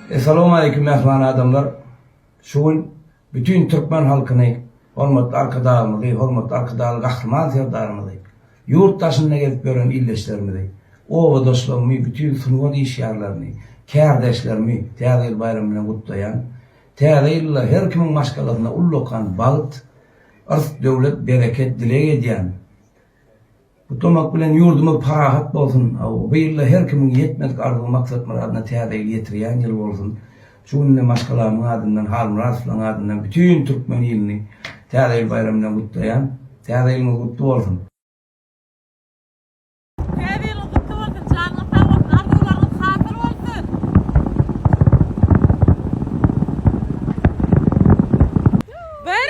Essalawmaleýkim mähriban adamlar! Şu gün bütin türkmen halkyny, hormatly Arkadagymyzy, hormatly Arkadagly Gahryman Serdarymyzy, ýurt daşynda gezip ýören ildeşlerimizi, obadaşlarymy, bütin sungat işgärlerini, kärdeşlerimi Täze ýyl baýramy bilen gutlaýan. Täze ýylda her kimiň maşgalasynda ullakan bagt, yrs-döwlet, bereket dileg edýän. Gutlamak bilen ýurdumyz parahat bolsun. Bu ýylda her kimiň ýetmedik arzuw maksat myradyna täze ýyl ýetirýän ýyl bolsun. Şu günde maşgalamyň adyndan Halmyradowlaň adyndan bütin türkmen ilyny täze ýyl baýramy bilen gutlaýan. Täze ýylyňyz gutly bolsun. Täze ýylyňyz gutly bolsun, janyňyz sag bolsun, arzuwlaryňyz hasyl bolsun! Bir.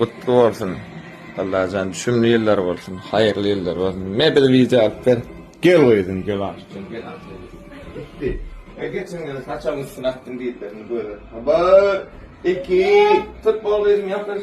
gutly bolsun. Allajan düşümli ýyllar bolsun, haýyrly ýyllar bolsun. Me bir video alyp ber. Gel gyzym, gel aşkym, gel aşkym. Gitti. E geçen ýyl saçagyň üstüne atdym diýipler, indi göre. Habar. Iki. Tut bol gyzym, ýapyş.